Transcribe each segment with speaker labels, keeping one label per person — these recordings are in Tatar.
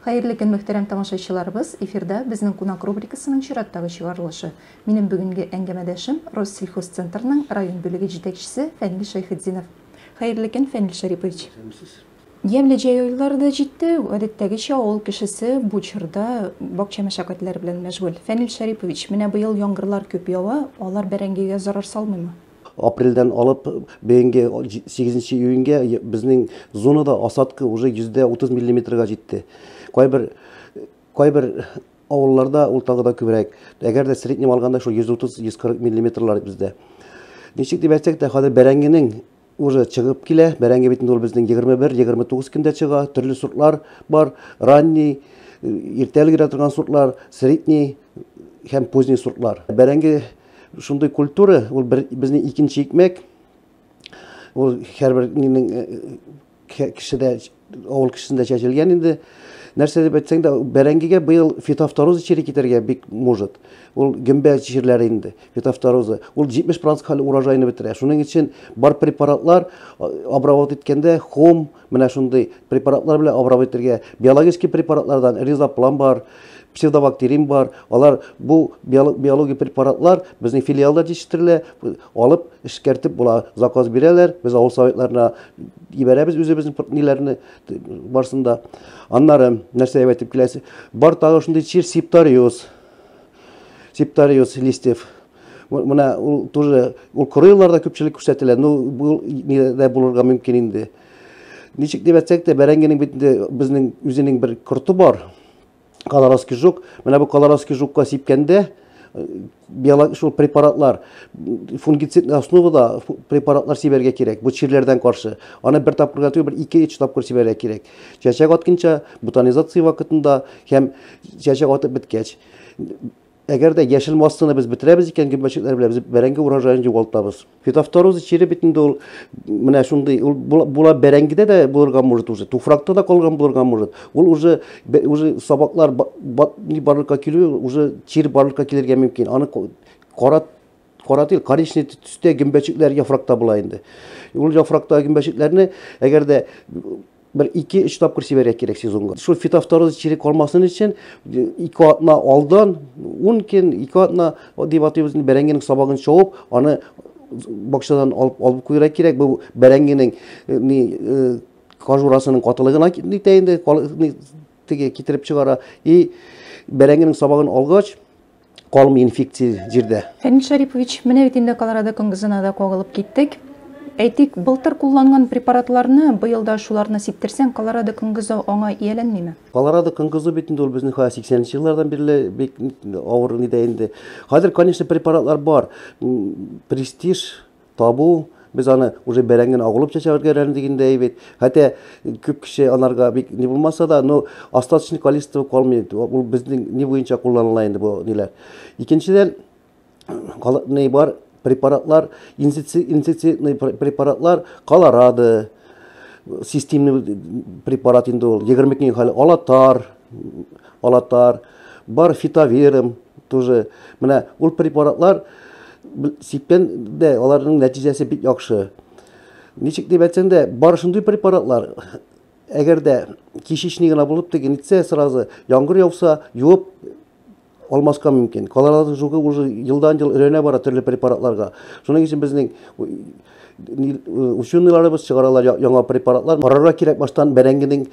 Speaker 1: Хәерле көн, мөхтәрәм тамашачыларыбыз! Эфирда Безнең кунак рубрикасының чираттагы чыгарылышы. Минем бүгенге әңгәмәдәшем, Россельхозцентрның район бүлеге җитәкчесе Фәнил Шәйхетдинов. Хәерле көн, Фәнил Шәрипович! Сәламсез. Ямьле җәй айлары да җитте, гадәттәгечә, авыл кешесе бу чорда бакча мәшәкатьләре белән мәшгуль. Фәнил Шәрипович, менә быел яңгырлар күп ява, алар бәрәңгегә зарар салмыймы? Апрельдән алып бәйенге 8 нче июньгә безнең зонада осадка уже йөздә 30 миллиметрга җитте. Кайбер кайбер авылларда ул тагы да күбрәк. Әгәр дә среднем алганда шул 130-140 миллиметрлар бездә. Ничек дип әйтсәк тә, хәзер бәрәңгенең уже чыгып килә. Бәрәңге бит инде ул безнең 21-29 көндә чыга. Төрле сортлар бар. Ранний, иртә өлгерә торган сортлар, средний һәм поздний сортлар. Бәрәңге Шундый культура, ул безнең икенче икмәк. Ул һәрбер нинең э, э, кешедә, авыл кешесендә чәчелгән инде. Нәрсә дип әйтсәң дә, бәрәңгегә быел фитофтороза чире китәргә бик может. Ул гөмбә чирләре инде, фитофтороза. Ул 70% хәл урожайны бетерә. Шуның өчен бар препаратлар обработать иткәндә хом, Менә шундый препаратлар белән абрап итергә. Биологический препаратлардан ризоплам бар, псевдобактерин бар. Алар бу биологик препаратлар безнең филиалда җитештерелә, алып эшкәртеп була. Заказ бирәләр, без авыл советларына җибәрәбез үзебезнең ниләрне барсында. Аннары нәрсә әйтеп киләсе? Бар тагы шундый чир септариоз. Септариоз листьев. Менә ул тоже ул коры елларда күпчелек күрсәтелә. Ну, бу нидә булырга мөмкин инде. Ничек дип әйтсәк тә, бәрәңгенең бит инде безнең үзенең бер корты бар. Колорадский жук. Менә бу колорадский жукка сипкәндә биолог шул препаратлар фунгицид основада препаратлар сибәргә кирәк бу чирләрдән каршы аны бер тапкырга түгел бер ике өч тапкыр сибәргә кирәк чәчәк атканча бутонизация вакытында һәм чәчәк атып беткәч Әгәр дә яшел массаны без бетерәбез икән, гөмбәчекләр белән без бәрәңге урожаен югалтабыз. Фитофтороза чире бит инде ул менә шундый, ул була бәрәңгедә дә булырга может уже, туфракта да калган булырга может. Ул уже уже сабаклар ни барлыкка килү, уже чир барлыкка килергә мөмкин. Аны кара кара түгел, коричневый төстә гөмбәчекләр яфракта була инде. Ул яфракта гөмбәчекләрне әгәр дә Бер ике-өч тапкыр сибәргә кирәк сезонга. Шул фитофтороз чире калмасын өчен ике атна алдан, ун көн, ике атна дип атыйбыз, бәрәңгенең сабагын чабып, аны бакчадан алып алып куйырга кирәк. Бу бәрәңгенең э, ни э, кожурасының катылыгына нитә инде, теге китереп чыгара. И бәрәңгенең сабагын алгач, калмый инфекция җирдә. Фәнил Шәрипович, менә бит инде Колорадо конгызына да кагылып киттек. Әйтик, былтыр кулланган препаратларны быел да шуларны сиптерсәң, Колорадо конгызы аңа ияләнмиме? Колорадо конгызы бит инде ул безнең хәзер 80 нче еллардан бирле бик авыр нидә инде. Хәзер, конечно, препаратлар бар. Престиж, табу, без аны уже бәрәңген агылып чәчә өлгерәләр дигәндәй бит. Хәтта күп кеше анарга бик ни булмаса да, но остаточный количество калмый. Ул безнең ни буенча кулланыла инде бу ниләр. Икенчедән, ни бар препаратлар, инсектицидный препаратлар, колорадо, системный препарат инде ул, егерме көн хәл алатар. Алатар, бар фитовером тоже. Менә ул препаратлар сипкән дә аларның нәтиҗәсе бик яхшы. Ничек дип әйтсәң дә, бар шундый препаратлар. Әгәр дә кишечник генә булып тегенитсә сразу, яңгыр яуса, юып алмаска мөмкин. Калаларның жугы уже елдан-ел өрәнә бара төрле препаратларга. Шуның өчен безнең ученыйларыбыз чыгаралар яңа препаратлар. Карарга кирәк баштан бәрәңгенең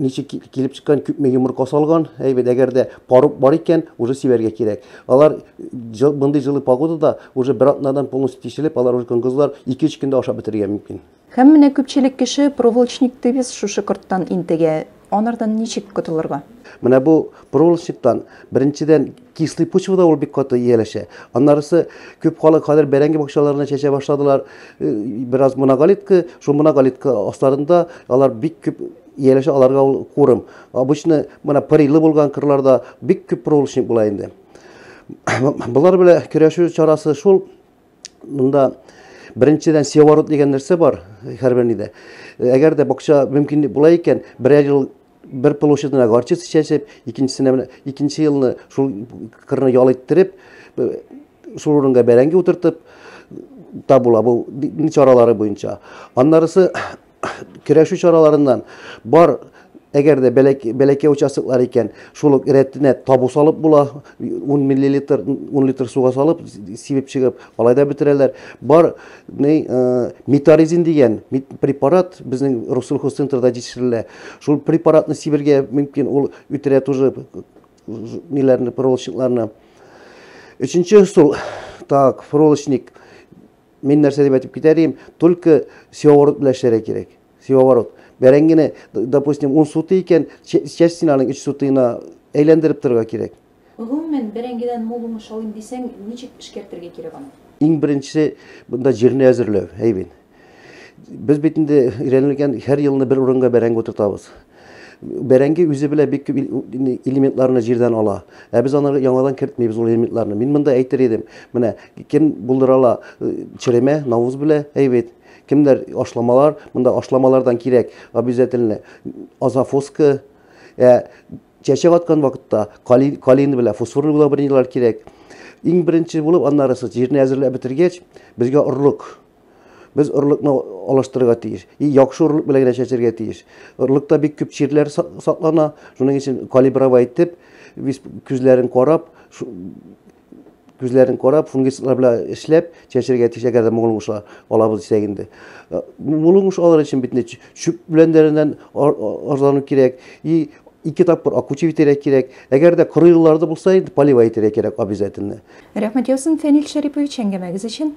Speaker 1: ничек килеп чыккан, күпме йомырка салган. Әйбәт, әгәр дә парук бар икән, уже сибәргә кирәк. Алар мондый җылы погодада уже бер атнадан полностью тишелеп, алар уже коңгызлар 2-3 көндә ашап бетерергә мөмкин. Һәм менә күпчелек кеше проволочник тевис шушы корттан интегә. Анардан ничек котылырга? Менә бу проволочниктан, беренчедән, кислый почвада ул бик каты ияләшә. Аннарысы күп халык хәзер бәрәңге бакчаларына чәчә башладылар. Э, бераз моноголитка, шул моноголитка асларында алар бик күп ияләшә, аларга ул курым. Обычно менә пырыйлы булган кырларда бик күп проволочник була инде. Болар белән көрәшү чарасы шул, Монда беренчедән севорот дигән нәрсә бар һәрбер нидә. Әгәр дә бакча мөмкин була икән, берәр ел бер площадьына горчица чәчеп, икенчесенә менә икенче елны шул кырны ял иттереп, шул урынга бәрәңге утыртып та була бу чаралары буенча. Аннарысы Көрәшү чараларыннан бар Әгәр дә бәләкәй участоклар икән, шул ук рәтенә табу салып була, 10 миллилитр, 10 литр суга салып, сибеп чыгып, алай да бетерәләр. Бар э, метаризин дигән препарат безнең Россельхозцентрда җитештерелә. Шул препаратны сибергә мөмкин, ул үтерә тоже ниләрне, проволочникларны. Өченче ысул, так, проволочник, Мин нәрсә дип әйтеп китәр идем, только севооборот белән эшләргә кирәк. Севооборот. Бәрәңгене, допустим, ун сутый икән, частьсен аның өч сутыена әйләндереп торырга кирәк. Гомумән, бәрәңгедән мул уңыш алыйм дисәң, ничек эшкәртергә кирәк аны? Иң беренче монда җирне әзерләү, әйбин. Без бит инде өйрәнелгән, һәр елны бер урынга бәрәңге утыртабыз. Бәрәңге үзе белә бик күп элементларны җирдән ала. Ә без аны яңадан кертмибез ул элементларны. Мин монда әйтер идем. Менә кем булдыра ала черемә, навуз белә, әйбәт. Кемнәр ашламалар, монда ашламалардан кирәк обязательно азофоска. Ә чәчәк аткан вакытта калин, калин белә фосфорный удобренияләр кирәк. Иң беренче булып аннарысы җирне әзерләп бетергәч, безгә орлык Без орлыкны алыштырырга тиеш. И яхшы орлык белән генә чәчәргә тиеш. Орлыкта бик күп чирләр саклана. Шуның өчен калибровать итеп, без күзләрен карап, күзләрен карап, фунгицидлар белән эшләп чәчәргә тиеш, әгәр дә моңлы уңыш алабыз дисәк инде. Э, моңлы уңыш алыр өчен бит инде чүп беләннәреннән арзану кирәк. И ике тапкыр акучы итәргә кирәк. Әгәр дә коры елларда булса, инде поливай итәргә кирәк обязательно. Рәхмәт яусын, Фәнил Шәрипович, әңгәмәгез өчен.